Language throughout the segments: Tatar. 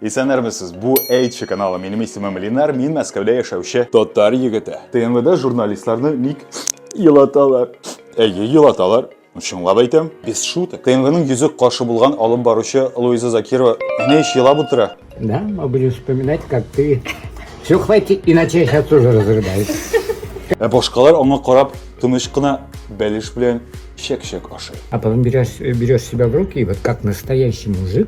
Исәнермесез, бу Эйчи каналы, минем исемем Линар, мин Мәскәүдә яшәүче татар егете. ТНВда журналистларны ник елаталар? Әйе, елаталар. Чынлап әйтәм, без шуток. ТНВның йөзек каршы булган алып баручы Луиза Закирова менә ич елап утыра. Да, мы будем вспоминать, как ты... Все, хватит, иначе я сейчас тоже разрыдаюсь. Ә башкалар аңа карап тыныч кына бәлеш белән чәк-чәк ашый. А потом берешь, берешь себя в руки, и вот как настоящий мужик,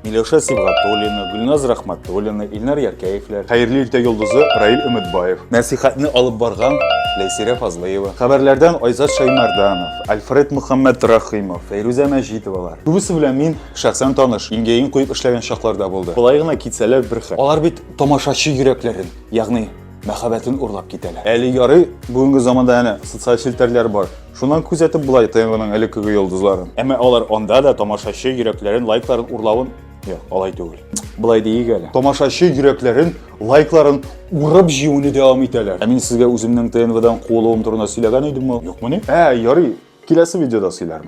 Миләүшә Сибгатуллина, Гөлназ Рахматуллина, Илнар Яркәевләр, хәерле иртә йолдызы Раил Өметбаев, нәсихәтне алып барган Ләйсирә Фазлыева, хәбәрләрдән Айзат Шаймарданов, Альфред Мөхәммәд Рахимов, Фәйрүзә Мәҗитовалар. Күбесе белән мин шәхсән таныш, иңгәен куеп эшләгән чакларда булды. Болай гына китсәләр бер хәл. Алар бит тамашачы йөрәкләрен, ягъни мәхәббәтен урлап китәләр. Әле ярый, бүгенге заманда әнә социаль челтәрләр бар. Шуннан күзәтеп була ТНВның элеккеге йолдызларын. Әмма алар анда да тамашачы йөрәкләрен, лайкларын урлавын Юк, алай түгел. Былай диик әле. Тамашачы йөрәкләрен, лайкларын урып җиюне дәвам итәләр. Ә мин сезгә үземнең ТНВдан куылуым турында сөйләгән идемме? Юкмыни? Ә, ярый. Киләсе видеода сөйләрмен.